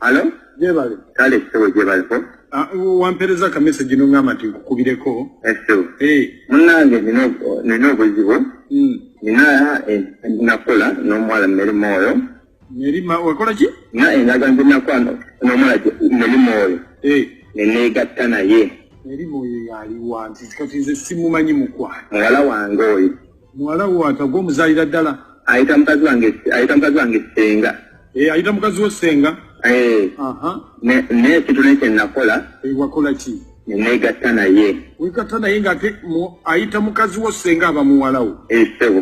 Alo? Jebale. Kale sebo jebale ko. Ah, wampereza ka message no ngama ti kukubireko. Eso. Eh. Munange nino nino obuzibu. Mm. Nina eh, nakola n'omuwala mmeri mwoyo. Mmeri ma wakola ki? Na endaga eh, nze nakola n'omuwala mmeri mwoyo. Eh. Ne neegatta naye. Mmeri mwoyo yali wanti kati nze simumanyi mukwano. Muwala wange oyo. muwala wo atagwa omuzaalira ddala ayita mukazi wange ayita mukazi wange senga eh, ayita mukazi wo senga eh. naye ekintu naye kyenakola eh, wakola ki nenegatta naye wegatta naye ngaate ayita mukazi wo senga aba muwala wo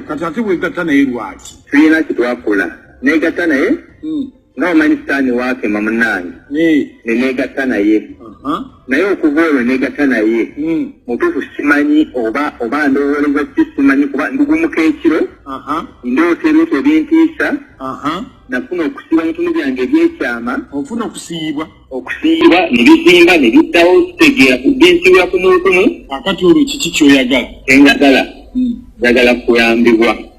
kati ate wegatta naye lwaki tulina kitwakola negatta naye hmm. nga omanyi sitaani waakema munnange ne neegatta naye naye okuva olwo neegatta naye hmm. mutuufu simanyi oba oba ndowooleza ki simanyi kuba ndugumuka ekiro ndoota ebintu ebintiisa nafuna okusiiba ebitunu byange ebyekyama ofuna okusiibwa okusiiba ne bizimba ne biddawo kitegeera binsiibwa kumukumu akati olwo kiki kyoyagala enjagala hmm. njagala kuyambibwa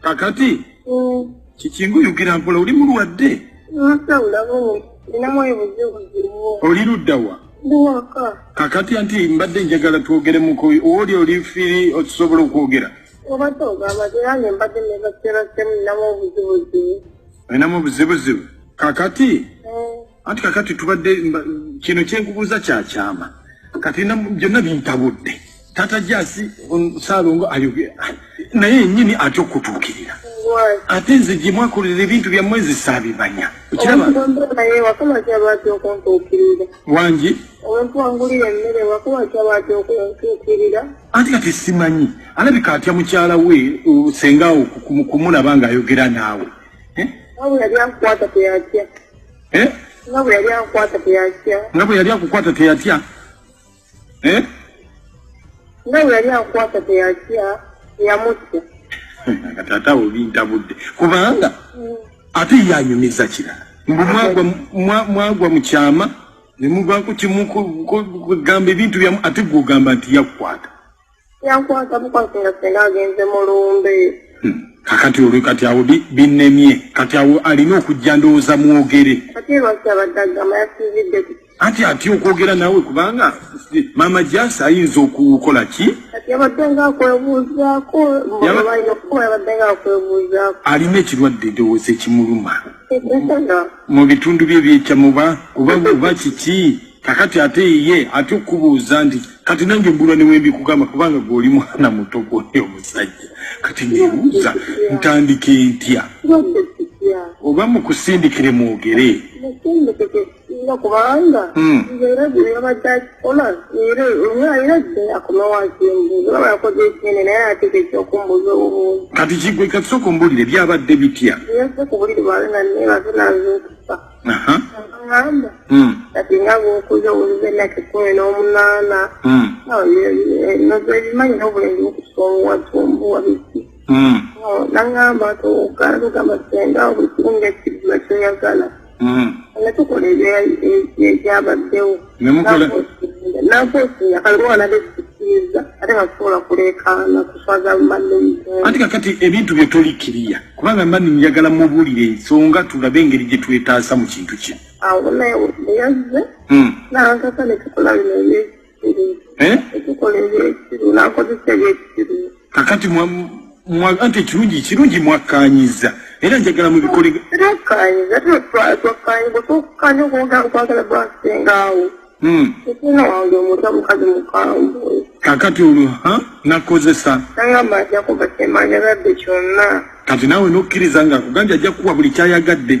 kakati kiki nguyugira mpola oli mulwadde oli ludda wa kakati anti mbadde njagala twogere muko oli oli firi okisobola okwogera olinamu obuzibuzibu kakati anti kakati tubadde kino kyenkubuuza kyakyama kati byonna bintabudde tata jasi salongo ayogera naye yenyini atya okutuukirira ate nze gye mwakolera ebintu byammwe nze saabimanya wangi anti kati simanyi alabika atya mukyala we sengaawo kumulaba ng'ayogera naawe eh? eh? nga bwe yali akukwata teyatya nga bwe yali akukwata teyatya eh? nga bwe yali akukwata teyatya yamutya taata obintabudde kubanga mm. ate yanyumiza kirala mbu mwagwa mu kyama ne muvaako kimu kugamba ebintu byamu ate gweogamba nti yakukwata yankwasa bukwasi nga senga agenze mu lumbe hmm. kakati olwe kati awo binnemye kati awo alina okujja ndowooza mwogere kati lwaki abadde agamba yasizidde anti atya okwogera naawe kubanga maama jasi ayinza okukola ki alina ekirwadde ndowooza ekimuluma mu bitundu bye byecamuba oba kiki kakati ate ye atya okukubuuza nti kati nange mbulwa newembikugamba kubanga gweoli mwana muto gwoyo omusajja kati nebuuza ntandike ntya oba mukusindikire mwogere kubanga hmm. era byeyabadde akikola era omwe alina gyeyakola wasimbuza oba yakoze ekindi naye ateka ekyokumbuza obubuuzi kati kigwe kati soka ombulire byabadde bitya yese kubuliri bwalina naye baze nazuukusa agamba hmm. kati nga bwokuza owulize nake kumi n'omunaana hmm. nozebimanyi n'obulenzi bukusonga tumbuwa biki hmm. nagamba tugamba senga buli kimu nga ekibula kyoyagala nga tukola ebyabaddewo anti kakati ebintu bye tolikiriya kubanga mani njagala mubuulire ensonga tulabe engeri gye twetaasa mu kintu kino kakati anti ekirungi kirungi mwakkanyiza era njagala mubikoleakkanyiza twakkanyiza twakukanya okwogera okwagala gwasengaawo hmm. ekina wange omuta mukazi mukambwe kakati olwo nakozesa nagamba ajja kuba kyemanya badde kyonna kati naawe nokkiriza nga akugambye ajja kukuwa buli kyayagadde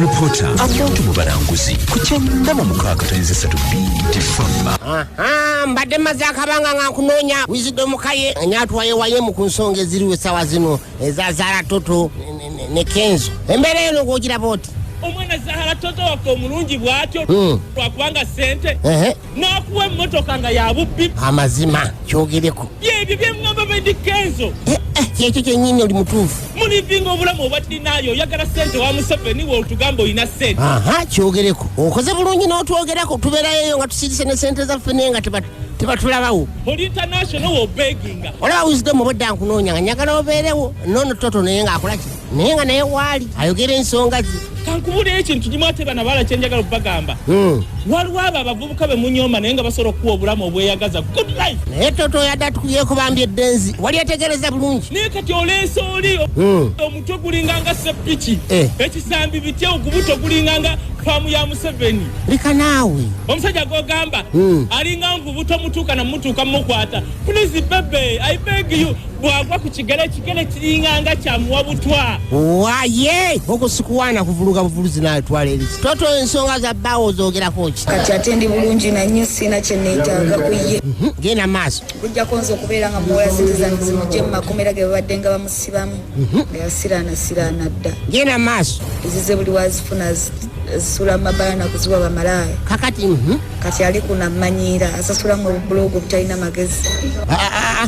Reporter abantu mu balanguzi ku kyenda mu mukaaga tayinza esatu bbiri fama mbadde maze akabanga nga nkunoonya wizidomu kaye nyatwaye wayemu ku nsonga eziriwo essaawa zino eza zaala toto ne kenzo embeera eno ng'ogiraba oti omwana zahara toto waffe omulungi bw'atyo hmm. lwakubanga ssente n'akuwa emmotoka nga ya bubbi amazima kyogereko byebyo byeŋŋamba bendi kenzo eh, eh, kyekyo kyennyini oli mutuufu mulivinga obulamu obwa dinaayo oyagala sente wa museveni we otugamba olina sente aha kyogereko okoze bulungi n'otwogerako tubeerayoyo nga tusirise ne sente zaffe naye nga tebatulabawo oli international wobeginga olaba wisdom obwedda nkunoonya nga nyagala obeerewo noono toto naye ng'akolaki naye nga naye waali ayogera ensonga ze kankubuleyo ekintu kimu ate bana bala kyenjagala okubagamba hmm. waliwo abo abavubuka be munyoma naye nga basobola okukuwa obulamu obweyagaza good life naye toto yadde atukuyeko bambi eddenzi wali ategereza bulungi naye kati oleesa oli hmm. omutwe gulinganga sepiki eh. ekisambi bitya ogubuto gulinganga faamu ya museveni leka naawe omusajja gogamba hmm. alinga nvubuto mutuuka namutuuka mumukwata please bebe i beg you bwagwa ku kigere ekigere kiringanga kyamuwa butwa waye okusikuwaana kuvuluga buvuluzi naye twala erizi toto ensonga za bbaawo ozogerako ki kati ate ndi bulungi nanyo siina kyeneetaaga ku ye mhm, genda maaso bujjako nze okubeera nga muwola sente zange zimugye mu makomera ge babadde nga bamusibamu mhm. eyasiraana siraana dda genda maaso ezize buli wazifuna zisula mu mabala nakuziwa bamalaaya kakati mhm. kati ali ku namanyiira asasula mu obubulogo obutalina magezi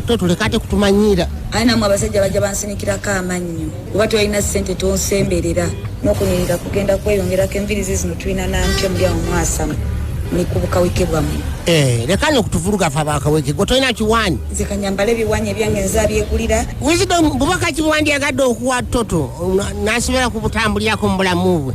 totuleka ate kutumanyiira aye namwe abasajja bajja bansinikirako amannyo oba tolina ssente tonsemberera n'okunyirira kugenda kweyongerako envirizi zino tulina nampya muli awo mwasama ni ku bukaweke bwammwe eh, leka no kutuvuluga fa bakaweke gwe tolina kiwaanyi nze kanyambala ebiwaanyi ebyange nzabyegulira wisdom bubaka kibuwandyagadde okuwa toto nasobola kubutambulirako mu bulamu bwe